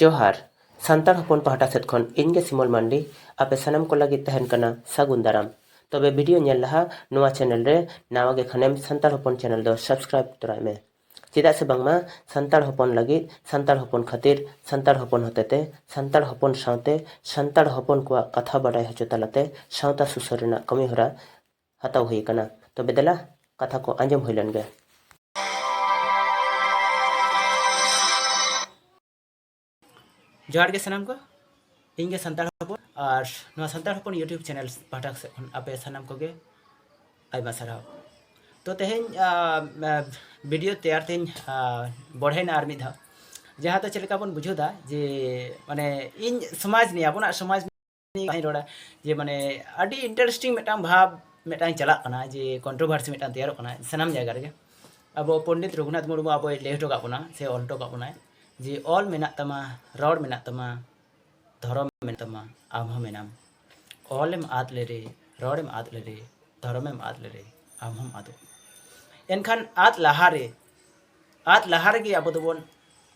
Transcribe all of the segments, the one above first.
ᱡᱚᱦᱟᱨ ᱥᱟᱱᱛᱟᱲ ᱦᱚᱯᱚᱱ ᱯᱟᱦᱴᱟ ᱥᱮᱫ ᱠᱷᱚᱱ ᱤᱧ ᱜᱮ ᱥᱤᱢᱚᱞ ᱢᱟᱱᱰᱤ ᱟᱯᱮ ᱥᱟᱱᱟᱢ ᱠᱚ ᱞᱟᱹᱜᱤᱫ ᱛᱟᱦᱮᱱ ᱠᱟᱱᱟ ᱥᱟᱹᱜᱩᱱ ᱫᱟᱨᱟᱢ ᱛᱚᱵᱮ ᱵᱷᱤᱰᱤᱭᱳ ᱧᱮᱞ ᱞᱟᱦᱟ ᱱᱚᱣᱟ ᱪᱮᱱᱮᱞ ᱨᱮ ᱱᱟᱣᱟ ᱜᱮ ᱠᱷᱟᱱᱮᱢ ᱥᱟᱱᱛᱟᱲ ᱦᱚᱯᱚᱱ ᱪᱮᱱᱮᱞ ᱫᱚ ᱥᱟᱵᱥᱠᱨᱟᱭᱤᱵ ᱛᱚᱨᱟᱭ ᱢᱮ ᱪᱮᱫᱟᱜ ᱥᱮ ᱵᱟᱝᱢᱟ ᱥᱟᱱᱛᱟᱲ ᱦᱚᱯᱚᱱ ᱞᱟᱹᱜᱤᱫ ᱥᱟᱱᱛᱟᱲ ᱦᱚᱯᱚᱱ ᱠᱷᱟᱹᱛᱤᱨ ᱥᱟᱱᱛᱟᱲ ᱦᱚᱯᱚᱱ ᱦᱚᱛᱮᱛᱮ ᱥᱟᱱᱛᱟᱲ ᱦᱚᱯᱚᱱ ᱥᱟᱶᱛᱮ ᱥᱟᱱᱛᱟᱲ ᱦᱚᱯᱚᱱ ᱠᱚᱣᱟᱜ ᱠᱟᱛᱷᱟ ᱵᱟᱰᱟᱭ ᱦᱚᱪᱚ ᱛᱟᱞᱟᱛᱮ ᱥᱟᱶᱛᱟ ᱥᱩᱥᱟᱹᱨ ᱨᱮᱱᱟᱜ ᱠᱟᱹᱢᱤᱦᱚᱨᱟ ᱦᱟᱛᱟᱣ ᱦᱩᱭ ᱟᱠᱟᱱᱟ᱾ ᱛᱚᱵᱮ ᱫᱮᱞᱟ ᱠᱟᱛᱷᱟ ᱠᱚ ᱟᱸᱡᱚᱢ ᱦᱩᱭ ᱞᱮᱱ ᱜᱮ᱾ ᱡᱚᱦᱟᱨ ᱜᱮ ᱥᱟᱱᱟᱢ ᱠᱚ᱾ ᱤᱧ ᱜᱮ ᱥᱟᱱᱛᱟᱲ ᱦᱚᱯᱚᱱ ᱟᱨ ᱱᱚᱣᱟ ᱥᱟᱱᱛᱟᱲ ᱦᱚᱯᱚᱱ ᱭᱩᱴᱭᱩᱵᱽ ᱪᱮᱱᱮᱞ ᱯᱟᱦᱴᱟ ᱥᱮᱫ ᱠᱷᱚᱱ ᱟᱯᱮ ᱥᱟᱱᱟᱢ ᱠᱚᱜᱮ ᱟᱭᱢᱟ ᱥᱟᱨᱦᱟᱣ᱾ ᱛᱚ ᱛᱮᱦᱮᱧ ᱵᱷᱤᱰᱤᱭᱳ ᱛᱮᱭᱟᱨ ᱛᱮᱧ ᱵᱚᱲᱦᱮᱱᱟ ᱟᱨ ᱢᱤᱫ ᱫᱷᱟᱣ ᱡᱟᱦᱟᱸ ᱫᱚ ᱪᱮᱫ ᱞᱮᱠᱟ ᱵᱚᱱ ᱵᱩᱡᱷᱟᱹᱣ ᱫᱟ ᱡᱮ ᱢᱟᱱᱮ ᱤᱧ ᱥᱚᱢᱟᱡᱽ ᱱᱤᱭᱮ ᱟᱵᱚᱱᱟᱜ ᱥᱚᱢᱟᱡᱽ ᱠᱟᱹᱦᱤ ᱨᱚᱲᱟ ᱡᱮ ᱢᱟᱱᱮ ᱟᱹᱰᱤ ᱤᱱᱴᱟᱨᱮᱥᱴᱤᱝ ᱢᱤᱫᱴᱟᱝ ᱵᱷᱟᱵᱽ ᱢᱤᱫᱴᱟᱝ ᱪᱟᱞᱟᱜ ᱠᱟᱱᱟ ᱡᱮ ᱠᱚᱱᱴᱨᱳᱵᱷᱟᱨᱥᱤ ᱢᱤᱫᱴᱟᱝ ᱛᱮᱭᱟᱨᱚᱜ ᱠᱟᱱᱟ ᱥᱟᱱᱟᱢ ᱡᱟᱭᱜᱟ ᱨᱮᱜᱮ ᱟᱵᱚ ᱯᱚᱱᱰᱤᱛ ᱨᱚᱜᱷᱩᱱᱟᱛᱷ ᱢᱩᱨᱢᱩ ᱟᱵᱚᱭ ᱞᱟᱹᱭ ᱦᱚᱴᱚ ᱠᱟᱜ ᱵᱚᱱᱟ ᱥᱮ ᱚᱞ ᱦᱚᱴᱚ ᱠᱟᱜ ᱵᱚᱱᱟᱭ ᱡᱮ ᱚᱞ ᱢᱮᱱᱟᱜ ᱛᱟᱢᱟ ᱨᱚᱲ ᱢᱮᱱᱟᱜ ᱛᱟᱢᱟ ᱫᱷᱚᱨᱚᱢ ᱢᱮᱱᱟᱜ ᱛᱟᱢᱟ ᱟᱢ ᱦᱚᱸ ᱢᱮᱱᱟᱢ ᱚᱞᱮᱢ ᱟᱫ ᱞᱮᱨᱮ ᱨᱚᱲᱮᱢ ᱟᱫ ᱞᱮᱨᱮ ᱫᱷᱚᱨᱚᱢᱮᱢ ᱟᱫ ᱞᱮᱨᱮ ᱟᱢ ᱦᱚᱸᱢ ᱟᱫᱚᱜ ᱮᱱᱠᱷᱟᱱ ᱟᱫ ᱞᱟᱦᱟᱨᱮ ᱟᱫ ᱞᱟᱦᱟ ᱨᱮᱜᱮ ᱟᱵᱚ ᱫᱚᱵᱚᱱ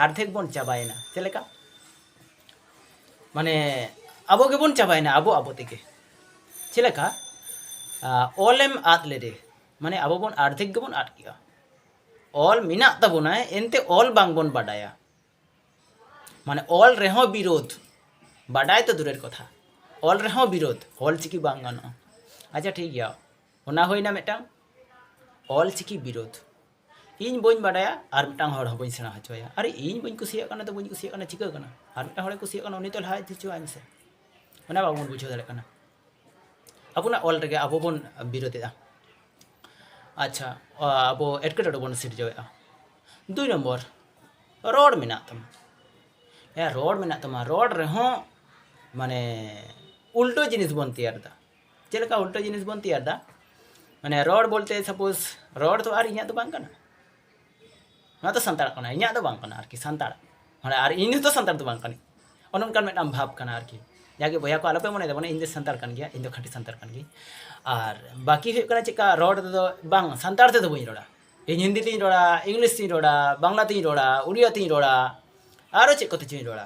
ᱟᱨᱫᱷᱮᱠ ᱵᱚᱱ ᱪᱟᱵᱟᱭᱮᱱᱟ ᱪᱮᱫ ᱞᱮᱠᱟ ᱢᱟᱱᱮ ᱟᱵᱚ ᱜᱮᱵᱚᱱ ᱪᱟᱵᱟᱭᱮᱱᱟ ᱟᱵᱚ ᱟᱵᱚ ᱛᱮᱜᱮ ᱪᱮᱫ ᱞᱮᱠᱟ ᱚᱞᱮᱢ ᱟᱫ ᱞᱮᱨᱮ ᱢᱟᱱᱮ ᱟᱵᱚ ᱵᱚᱱ ᱟᱨᱫᱷᱮᱠ ᱜᱮᱵᱚᱱ ᱟᱫ ᱠᱮᱜᱼᱟ ᱚᱞ ᱢᱮᱱᱟᱜ ᱛᱟᱵᱚᱱᱟ ᱮᱱᱛᱮ ᱚᱞ ᱵᱟᱝᱵᱚᱱ ᱵᱟᱰᱟᱭᱟ ᱢᱟᱱᱮ ᱚᱞ ᱨᱮᱦᱚᱸ ᱵᱤᱨᱳᱫᱷ ᱵᱟᱰᱟᱭ ᱛᱚ ᱫᱩᱨᱮᱨ ᱠᱚᱛᱷᱟ ᱚᱞ ᱨᱮᱦᱚᱸ ᱵᱤᱨᱳᱫᱷ ᱚᱞ ᱪᱤᱠᱤ ᱵᱟᱝ ᱜᱟᱱᱚᱜᱼᱟ ᱟᱪᱪᱷᱟ ᱴᱷᱤᱠ ᱜᱮᱭᱟ ᱚᱱᱟ ᱦᱩᱭᱱᱟ ᱢᱤᱫᱴᱟᱝ ᱚᱞ ᱪᱤᱠᱤ ᱵᱤᱨᱳᱫᱷ ᱤᱧ ᱵᱟᱹᱧ ᱵᱟᱰᱟᱭᱟ ᱟᱨ ᱢᱤᱫᱴᱟᱝ ᱦᱚᱲ ᱦᱚᱸ ᱵᱟᱹᱧ ᱥᱮᱬᱟ ᱦᱚᱪᱚᱭᱟ ᱟᱨ ᱤᱧ ᱵᱟᱹᱧ ᱠᱩᱥᱤᱭᱟᱜ ᱠᱟᱱᱟ ᱛᱚ ᱵᱟᱹᱧ ᱠᱩᱥᱤᱭᱟᱜ ᱠᱟᱱᱟ ᱪᱤᱠᱟᱹ ᱠᱟᱱᱟ ᱟᱨ ᱢᱤᱫᱴᱟᱝ ᱦᱚᱲᱮ ᱠᱩᱥᱤᱭᱟᱜ ᱠᱟᱱᱟ ᱩᱱᱤ ᱛᱚ ᱞᱟᱦᱟ ᱤᱫᱤ ᱦᱚᱪᱚᱣᱟᱭ ᱢᱮᱥᱮ ᱚᱱᱟ ᱵᱟᱵᱚᱱ ᱵᱩᱡᱷᱟᱹᱣ ᱫᱟᱲᱮᱭᱟᱜ ᱠᱟᱱᱟ ᱟᱵᱚᱱᱟᱜ ᱚᱞ ᱨᱮᱜᱮ ᱟᱵᱚ ᱵᱚᱱ ᱵᱤᱨᱳᱫᱮᱜᱼᱟ ᱟᱪᱪᱷᱟ ᱟᱵᱚ ᱮᱴᱠᱮᱴᱚᱬᱮ ᱵᱚᱱ ᱥᱤᱨᱡᱟᱹᱣᱮᱜᱼᱟ ᱫᱩᱭ ᱱᱚᱢᱵᱚᱨ ᱨᱚᱲ ᱢᱮᱱᱟᱜ ᱛᱟᱢᱟ ᱦᱮᱸ ᱨᱚᱲ ᱢᱮᱱᱟᱜ ᱛᱟᱢᱟ ᱨᱚᱲ ᱨᱮᱦᱚᱸ ᱢᱟᱱᱮ ᱩᱞᱴᱟᱹ ᱡᱤᱱᱤᱥ ᱵᱚᱱ ᱛᱮᱭᱟᱨᱫᱟ ᱪᱮᱫ ᱞᱮᱠᱟ ᱩᱞᱴᱟᱹ ᱡᱤᱱᱤᱥ ᱵᱚᱱ ᱛᱮᱭᱟᱨ ᱫᱟ ᱢᱟᱱᱮ ᱨᱚᱲ ᱵᱚᱞᱛᱮ ᱥᱟᱯᱳᱡ ᱨᱚᱲ ᱫᱚ ᱟᱨ ᱤᱧᱟᱹᱜ ᱫᱚ ᱵᱟᱝ ᱠᱟᱱᱟ ᱱᱚᱣᱟ ᱫᱚ ᱥᱟᱱᱛᱟᱲ ᱠᱟᱱᱟ ᱤᱧᱟᱹᱜ ᱫᱚ ᱵᱟᱝ ᱠᱟᱱᱟ ᱟᱨᱠᱤ ᱥᱟᱱᱛᱟᱲ ᱢᱟᱱᱮ ᱟᱨ ᱤᱧ ᱫᱚ ᱥᱟᱱᱛᱟᱲ ᱫᱚ ᱵᱟᱝ ᱠᱟᱹᱱᱟᱹᱧ ᱚᱱᱮ ᱚᱱᱠᱟᱱ ᱢᱤᱫᱴᱟᱝ ᱵᱷᱟᱵᱽ ᱠᱟᱱᱟ ᱟᱨᱠᱤ ᱡᱟᱜᱮ ᱵᱚᱭᱦᱟ ᱠᱚ ᱟᱞᱚᱯᱮ ᱢᱚᱱᱮᱭ ᱛᱟᱵᱚᱱᱟ ᱤᱧ ᱫᱚ ᱥᱟᱱᱛᱟᱲ ᱠᱟᱱ ᱜᱮᱭᱟ ᱤᱧ ᱫᱚ ᱠᱷᱟᱹᱴᱤ ᱥᱟᱱᱛᱟᱲ ᱠᱟᱱ ᱜᱤᱭᱟᱹᱧ ᱟᱨ ᱵᱟᱹᱠᱤ ᱦᱩᱭᱩᱜ ᱠᱟᱱᱟ ᱪᱮᱫᱠᱟ ᱨᱚᱲ ᱛᱮᱫᱚ ᱵᱟᱝ ᱥᱟᱱᱛᱟᱲ ᱛᱮᱫᱚ ᱵᱟᱹᱧ ᱨᱚᱲᱟ ᱤᱧ ᱦᱤᱱᱫᱤ ᱛᱤᱧ ᱨᱚᱲᱟ ᱤᱝᱞᱤᱥ ᱛᱤᱧ ᱨᱚᱲᱟ ᱵᱟᱝᱞᱟ ᱛᱤᱧ ᱨᱚᱲᱟ ᱩᱲᱤᱭᱟ ᱛᱤᱧ ᱨᱚᱲᱟ ᱟᱨᱚ ᱪᱮᱫ ᱠᱚᱛᱮ ᱪᱚᱧ ᱨᱚᱲᱟ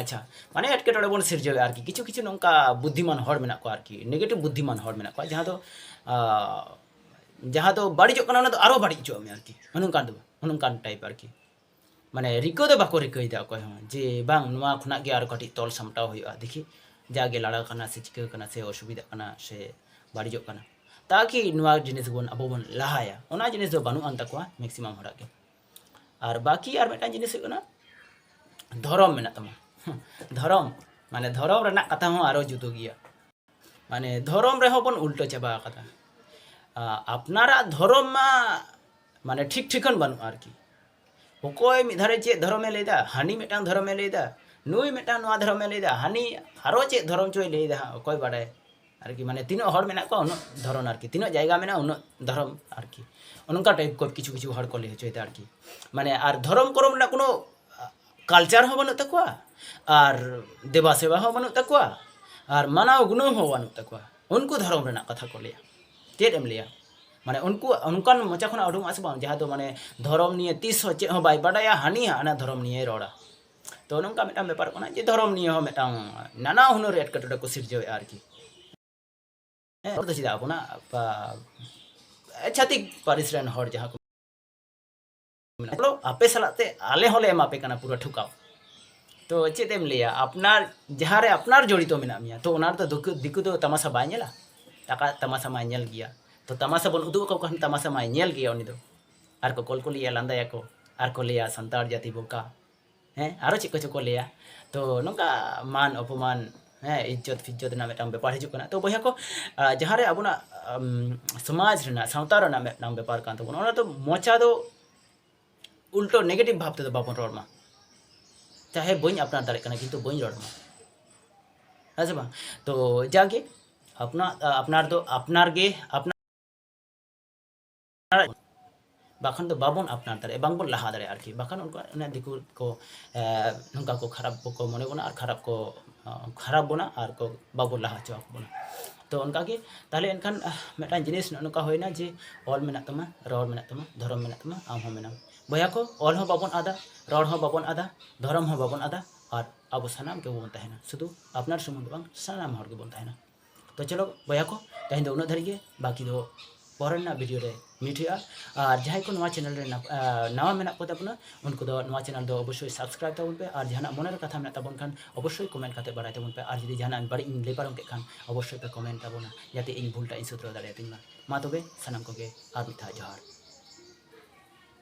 ᱟᱪᱪᱷᱟ ᱢᱟᱱᱮ ᱮᱴᱠᱮᱴᱚᱬᱮ ᱵᱚᱱ ᱥᱤᱨᱡᱟᱹᱣᱮᱫᱼᱟ ᱟᱨᱠᱤ ᱠᱤᱪᱷᱩ ᱠᱤᱪᱷᱩ ᱱᱚᱝᱠᱟ ᱵᱩᱫᱽᱫᱷᱤᱢᱟᱱ ᱦᱚᱲ ᱢᱮᱱᱟᱜ ᱠᱚᱣᱟ ᱟᱨᱠᱤ ᱱᱮᱜᱮᱴᱤᱵᱷ ᱵᱩᱫᱽᱫᱷᱤᱢᱟᱱ ᱦᱚᱲ ᱢᱮᱱᱟᱜ ᱠᱚᱣᱟ ᱡᱟᱦᱟᱸ ᱫᱚ ᱡᱟᱦᱟᱸ ᱫᱚ ᱵᱟᱹᱲᱤᱡᱚᱜ ᱠᱟᱱᱟ ᱚᱱᱟ ᱫᱚ ᱟᱨᱚ ᱵᱟᱹᱲᱤᱡ ᱦᱚᱪᱚᱣᱟᱜ ᱢᱮ ᱟᱨᱠᱤ ᱱᱚᱝᱠᱟᱱ ᱫᱚ ᱱᱚᱝᱠᱟᱱ ᱴᱟᱭᱤᱯ ᱟᱨᱠᱤ ᱢᱟᱱᱮ ᱨᱤᱠᱟᱹ ᱫᱚ ᱵᱟᱠᱚ ᱨᱤᱠᱟᱹᱭᱮᱫᱟ ᱚᱠᱚᱭ ᱦᱚᱸ ᱡᱮ ᱵᱟᱝ ᱱᱚᱣᱟ ᱠᱷᱚᱱᱟᱜ ᱜᱮ ᱟᱨᱚ ᱠᱟᱹᱴᱤᱡ ᱛᱚᱞ ᱥᱟᱢᱴᱟᱣ ᱦᱩᱭᱩᱜᱼᱟ ᱫᱮᱠᱷᱤ ᱡᱟᱜᱮ ᱞᱟᱲᱟᱣ ᱠᱟᱱᱟ ᱥᱮ ᱪᱤᱠᱟᱹ ᱠᱟᱱᱟ ᱥᱮ ᱚᱥᱩᱵᱤᱫᱷᱟᱜ ᱠᱟᱱᱟ ᱥᱮ ᱵᱟᱹᱲᱤᱡᱚᱜ ᱠᱟᱱᱟ ᱛᱟᱠᱤ ᱱᱚᱣᱟ ᱡᱤᱱᱤᱥ ᱵᱚᱱ ᱟᱵᱚ ᱵᱚᱱ ᱞᱟᱦᱟᱭᱟ ᱚᱱᱟ ᱡᱤᱱᱤᱥ ᱫᱚ ᱵᱟᱹᱱᱩᱜ ᱟᱱ ᱛᱟᱠᱚᱣᱟ ᱢᱮᱠᱥᱤᱢᱟᱢ ᱦᱚᱲᱟᱜ ᱜᱮ ᱟᱨ ᱵᱟᱹᱠᱤ ᱟᱨ ᱢᱤᱫᱴᱟᱝ ᱡᱤᱱᱤᱥ ᱦᱩᱭᱩᱜ ᱠᱟᱱᱟ ᱫᱷᱚᱨᱚᱢ ᱢᱮᱱᱟᱜ ᱛᱟᱢᱟ ᱫᱷᱚᱨᱚᱢ ᱢᱟᱱᱮ ᱫᱷᱚᱨᱚᱢ ᱨᱮᱱᱟᱜ ᱠᱟᱛᱷᱟ ᱦᱚᱸ ᱟᱨᱚ ᱡᱩᱫᱟᱹ ᱜᱮᱭᱟ ᱢᱟᱱᱮ ᱫᱷᱚᱨᱚᱢ ᱨᱮᱦᱚᱸ ᱵᱚᱱ ᱩᱞᱴᱟᱹ ᱪᱟᱵᱟ ᱟᱠᱟᱫᱟ ᱟᱯᱱᱟᱨᱟᱜ ᱫᱷᱚᱨᱚᱢ ᱢᱟ ᱢᱟᱱᱮ ᱴᱷᱤᱠ ᱴᱷᱤᱠᱟᱹᱱ ᱵᱟᱹᱱᱩᱜᱼᱟ ᱟᱨᱠᱤ ᱚᱠᱚᱭ ᱢᱤᱫ ᱫᱷᱟᱨᱮ ᱪᱮᱫ ᱫᱷᱚᱨᱚᱢᱮ ᱞᱟᱹᱭᱫᱟ ᱦᱟᱹᱱᱤ ᱢᱤᱫᱴᱟᱝ ᱫᱷᱚᱨᱚᱢᱮ ᱞᱟᱹᱭᱫᱟ ᱱᱩᱭ ᱢᱤᱫᱴᱟᱝ ᱱᱚᱣᱟ ᱫᱷᱚᱨᱚᱢᱮ ᱞᱟᱹᱭᱫᱟ ᱦᱟᱹᱱᱤ ᱟᱨᱚ ᱪᱮᱫ ᱫᱷᱚᱨᱚᱢ ᱪᱚᱭ ᱞᱟᱹᱭᱫᱟ ᱦᱟᱸᱜ ᱚᱠᱚᱭ ᱵᱟᱰᱟᱭ ᱟᱨᱠᱤ ᱢᱟᱱᱮ ᱛᱤᱱᱟᱹᱜ ᱦᱚᱲ ᱢᱮᱱᱟᱜ ᱠᱚᱣᱟ ᱩᱱᱟᱹᱜ ᱫᱷᱚᱨᱚᱢ ᱟᱨᱠᱤ ᱛᱤᱱᱟᱹᱜ ᱡᱟᱭᱜᱟ ᱢᱮᱱᱟᱜᱼᱟ ᱩᱱᱟᱹᱜ ᱫᱷᱚᱨᱚᱢ ᱟᱨᱠᱤ ᱚᱱᱠᱟ ᱴᱟᱭᱤᱯ ᱠᱚ ᱠᱤᱪᱷᱩ ᱠᱤᱪᱷᱩ ᱦᱚᱲ ᱠᱚ ᱞᱟᱹᱭ ᱦᱚᱪᱚᱭᱮᱫᱟ ᱟᱨᱠᱤ ᱢᱟᱱᱮ ᱟᱨ ᱫᱷᱚᱨᱚᱢ ᱠᱚᱨᱚᱢ ᱨᱮᱱᱟᱜ ᱠᱳᱱᱳ ᱠᱟᱞᱪᱟᱨ ᱦᱚᱸ ᱵᱟᱹᱱᱩᱜ ᱛᱟᱠᱚᱣᱟ ᱟᱨ ᱫᱮᱵᱟ ᱥᱮᱵᱟ ᱦᱚᱸ ᱵᱟᱹᱱᱩᱜ ᱛᱟᱠᱚᱣᱟ ᱟᱨ ᱢᱟᱱᱟᱣ ᱜᱩᱱᱟᱹᱣ ᱦᱚᱸ ᱵᱟᱹᱱᱩᱜ ᱛᱟᱠᱚᱣᱟ ᱩᱱᱠᱩ ᱫᱷᱚᱨᱚᱢ ᱨᱮᱱᱟᱜ ᱠᱟᱛᱷᱟ ᱠᱚ ᱞᱟᱹᱭᱟ ᱪᱮᱫ ᱮᱢ ᱞᱟᱹᱭᱟ ᱢᱟᱱᱮ ᱩᱱᱠᱩ ᱚᱱᱠᱟᱱ ᱢᱚᱪᱟ ᱠᱷᱚᱱᱟᱜ ᱩᱰᱩᱠᱚᱜᱼᱟ ᱥᱮ ᱵᱟᱝ ᱡᱟᱦᱟᱸ ᱫᱚ ᱢᱟᱱᱮ ᱫᱷᱚᱨᱚᱢ ᱱᱤᱭᱮ ᱛᱤᱥ ᱦᱚᱸ ᱪᱮᱫ ᱦᱚᱸ ᱵᱟᱭ ᱵᱟᱰᱟᱭᱟ ᱦᱟᱹᱱᱤ ᱦᱟᱱᱟ ᱫᱷᱚᱨᱚᱢ ᱱᱤᱭᱮ ᱨᱚᱲᱟ ᱛᱚ ᱱᱚᱝᱠᱟ ᱢᱤᱫᱴᱟᱝ ᱵᱮᱯᱟᱨ ᱠᱟᱱᱟ ᱡᱮ ᱫᱷᱚᱨᱚᱢ ᱱᱤᱭᱮ ᱦᱚᱸ ᱢᱤᱫᱴᱟᱝ ᱱᱟᱱᱟ ᱦᱩᱱᱟᱹᱨ ᱮᱴᱠᱮᱴᱚᱬᱮ ᱠᱚ ᱥᱤᱨᱡᱟᱹᱣᱮᱫᱼᱟ ᱟᱨᱠᱤ ᱦᱮᱸ ᱫᱚ ᱪᱮᱫᱟᱜ ᱟᱵᱚᱱᱟᱜ ᱪᱷᱟᱹᱛᱤᱠ ᱯᱟᱹᱨᱤᱥ ᱨᱮᱱ ᱦᱚᱲ ᱡᱟᱦᱟᱸ ᱠᱚ ᱢᱮᱱᱟᱜᱼᱟ ᱟᱯᱮ ᱥᱟᱞᱟᱜ ᱛᱮ ᱟᱞᱮ ᱦᱚᱸᱞᱮ ᱮᱢᱟ ᱯᱮ ᱠᱟᱱᱟ ᱯᱩᱨᱟᱹ ᱴᱷᱩᱠᱟᱣ ᱛᱚ ᱪᱮᱫ ᱮᱢ ᱞᱟᱹᱭᱟ ᱟᱯᱱᱟᱨ ᱡᱟᱦᱟᱸ ᱨᱮ ᱟᱯᱱᱟᱨ ᱡᱚᱲᱤᱛᱚ ᱢᱮᱱᱟᱜ ᱢᱮᱭᱟ ᱛᱚ ᱚᱱᱟ ᱨᱮᱫᱚ ᱫᱤᱠᱩ ᱫᱚ ᱛᱟᱢᱟᱥᱟ ᱵᱟᱭ ᱧᱮᱞᱟ ᱴᱟᱠᱟ ᱛᱟᱢᱟᱥᱟ ᱢᱟᱭ ᱧᱮᱞ ᱜᱮᱭᱟ ᱛᱚ ᱛᱟᱢᱟᱥᱟ ᱵᱚᱱ ᱩᱫᱩᱜ ᱟᱠᱚ ᱠᱷᱟᱱ ᱛᱟᱢᱟᱥᱟ ᱢᱟᱭ ᱧᱮᱞ ᱜᱮᱭᱟ ᱩᱱᱤ ᱫᱚ ᱟᱨ ᱠᱚ ᱠᱚᱞᱠᱚᱞᱤᱭᱟ ᱞᱟᱸᱫᱟᱭᱟᱠᱚ ᱟᱨ ᱠᱚ ᱞᱟᱹᱭᱟ ᱥᱟᱱᱛᱟᱲ ᱡᱟᱹᱛᱤ ᱵᱚᱠᱟ ᱦᱮᱸ ᱟᱨᱚ ᱪᱮᱫ ᱠᱚᱪᱚ ᱠᱚ ᱞᱟᱹᱭᱟ ᱛᱚ ᱱᱚᱝᱠᱟ ᱢᱟᱱ ᱚᱯᱚᱢᱟᱱ ᱦᱮᱸ ᱤᱡᱽᱡᱚᱛ ᱯᱷᱤᱡᱽᱡᱚᱛ ᱨᱮᱱᱟᱜ ᱢᱤᱫᱴᱟᱝ ᱵᱮᱯᱟᱨ ᱦᱤᱡᱩᱜ ᱠᱟᱱᱟ ᱛᱚ ᱵᱚᱭᱦᱟ ᱠᱚ ᱡᱟᱦᱟᱸ ᱨᱮ ᱟᱵᱚᱱᱟᱜ ᱥᱚᱢᱟᱡᱽ ᱨᱮᱱᱟᱜ ᱥᱟᱶᱛᱟ ᱨᱮᱱᱟᱜ ᱢᱤᱫᱴᱟᱝ ᱵᱮᱯᱟᱨ ᱠᱟᱱ ᱛᱟᱵᱚᱱᱟ ᱚᱱᱟ ᱫᱚ ᱢᱚᱪᱟ ᱫᱚ ᱩᱞᱴᱚ ᱱᱮᱜᱮᱴᱤᱵᱷ ᱵᱷᱟᱵᱽ ᱛᱮᱫᱚ ᱵᱟᱵᱚᱱ ᱨᱚᱲ ᱢᱟ ᱪᱟᱦᱮ ᱵᱟᱹᱧ ᱟᱯᱱᱟᱨ ᱫᱟᱲᱮᱜ ᱠᱟᱱᱟ ᱠᱤᱱᱛᱩ ᱵᱟᱹᱧ ᱨᱚᱲ ᱢᱟ ᱦᱮᱸ ᱥᱮ ᱵᱟᱝ ᱛᱚ ᱡᱟᱜᱮ ᱟᱯᱱᱟᱨ ᱟᱯᱱᱟᱨ ᱫᱚ ᱟᱯᱱᱟᱨ ᱜᱮ ᱟᱯᱱᱟᱨ ᱵᱟᱠᱷᱟᱱ ᱫᱚ ᱵᱟᱵᱚᱱ ᱟᱯᱱᱟᱨ ᱫᱟᱲᱮᱭᱟᱜᱼᱟ ᱵᱟᱝᱵᱚᱱ ᱞᱟᱦᱟ ᱫᱟᱲᱮᱭᱟᱜᱼᱟ ᱟᱨᱠᱤ ᱵᱟᱠᱷᱟᱱ ᱩᱱᱠᱩ ᱚᱱᱟ ᱫᱤᱠᱩ ᱠᱚ ᱱᱚᱝᱠᱟ ᱠᱚ ᱠᱷᱟᱨᱟᱯ ᱠᱚ ᱢᱚᱱᱮ ᱵᱚᱱᱟ ᱟᱨ ᱠᱷᱟᱨᱟᱯ ᱠᱚ ᱠᱷᱟᱨᱟᱯ ᱵᱚᱱᱟ ᱟᱨ ᱠᱚ ᱵᱟᱵᱚᱱ ᱞᱟᱦᱟ ᱦᱚᱪᱚ ᱵᱚᱱᱟ ᱛᱚ ᱚᱱᱠᱟᱜᱮ ᱛᱟᱦᱞᱮ ᱮᱱᱠᱷᱟᱱ ᱢᱤᱫᱴᱟᱝ ᱡᱤᱱᱤᱥ ᱱᱚᱜᱼᱚ ᱱᱚᱝᱠᱟ ᱦᱩᱭᱱᱟ ᱡᱮ ᱚᱞ ᱢᱮᱱᱟᱜ ᱛᱟᱢᱟ ᱨᱚᱲ ᱢᱮᱱᱟᱜ ᱛᱟᱢᱟ ᱫᱷᱚᱨᱚᱢ ᱢᱮᱱᱟᱜ ᱛᱟᱢᱟ ᱟᱢ ᱦᱚᱸ ᱢᱮᱱᱟᱢ ᱵᱚᱭᱦᱟ ᱠᱚ ᱚᱞ ᱦᱚᱸ ᱵᱟᱵᱚᱱ ᱟᱫᱟ ᱨᱚᱲ ᱦᱚᱸ ᱵᱟᱵᱚᱱ ᱟᱫᱟ ᱫᱷᱚᱨᱚᱢ ᱦᱚᱸ ᱵᱟᱵᱚᱱ ᱟᱫᱟ ᱟᱨ ᱟᱵᱚ ᱥᱟᱱᱟᱢ ᱜᱮᱵᱚᱱ ᱛᱟᱦᱮᱱᱟ ᱥᱩᱫᱷᱩ ᱟᱯᱱᱟᱨ ᱥᱩᱢᱩᱝ ᱫᱚ ᱵᱟᱝ ᱥᱟᱱᱟᱢ ᱦᱚᱲ ᱜᱮᱵᱚᱱ ᱛᱟᱦᱮᱱᱟ ᱛᱚ ᱪᱚᱞᱚ ᱵᱚᱭᱦᱟ ᱠᱚ ᱛᱮᱦᱮᱧ ᱫᱚ ᱩᱱᱟᱹᱜ ᱫᱷᱟᱹᱨᱤᱡ ᱜᱮ ᱵᱟᱹᱠᱤ ᱫᱚ ᱯᱚᱨᱮ ᱨᱮᱱᱟᱜ ᱵᱷᱤᱰᱤᱭᱳ ᱨᱮ ᱢᱤᱴ ᱦᱩᱭᱩᱜᱼᱟ ᱟᱨ ᱡᱟᱦᱟᱸᱭ ᱠᱚ ᱱᱚᱣᱟ ᱪᱮᱱᱮᱞ ᱨᱮ ᱱᱟᱣᱟ ᱢᱮᱱᱟᱜ ᱠᱚ ᱛᱟᱵᱚᱱᱟ ᱩᱱᱠᱩ ᱫᱚ ᱱᱚᱣᱟ ᱪᱮᱱᱮᱞ ᱫᱚ ᱚᱵᱚᱥᱥᱳᱭ ᱥᱟᱵᱥᱠᱨᱟᱭᱤᱵᱽ ᱛᱟᱵᱚᱱ ᱯᱮ ᱟᱨ ᱡᱟᱦᱟᱱᱟᱜ ᱢᱚᱱᱮ ᱨᱮ ᱠᱟᱛᱷᱟ ᱢᱮᱱᱟᱜ ᱛᱟᱵᱚᱱ ᱠᱷᱟᱱ ᱚᱵᱚᱥᱥᱳᱭ ᱠᱚᱢᱮᱱᱴ ᱠᱟᱛᱮ ᱵᱟᱲᱟᱭ ᱛᱟᱵᱚᱱ ᱯᱮ ᱟᱨ ᱡᱩᱫᱤ ᱡᱟᱦᱟᱱᱟᱜ ᱵᱟᱹᱲᱤᱡ ᱤᱧ ᱞᱟᱹᱭ ᱯᱟᱨᱚᱢ ᱠᱮᱫ ᱠᱷᱟᱱ ᱚᱵᱚᱥᱥᱳᱭ ᱯᱮ ᱠᱚᱢᱮᱱᱴ ᱛᱟᱵᱚᱱᱟ ᱡᱟᱛᱮ ᱤᱧ ᱵᱷᱩᱞ ᱴᱟᱜ ᱤᱧ ᱥᱩᱫᱷᱨᱟᱹᱣ ᱫᱟᱲᱮᱭᱟᱛᱤᱧ ᱢᱟ ᱢᱟ ᱛᱚᱵᱮ ᱥᱟᱱᱟᱢ ᱠᱚᱜᱮ ᱟᱨ ᱢᱤᱫ ᱫᱷᱟᱣ ᱡᱚᱦᱟᱨ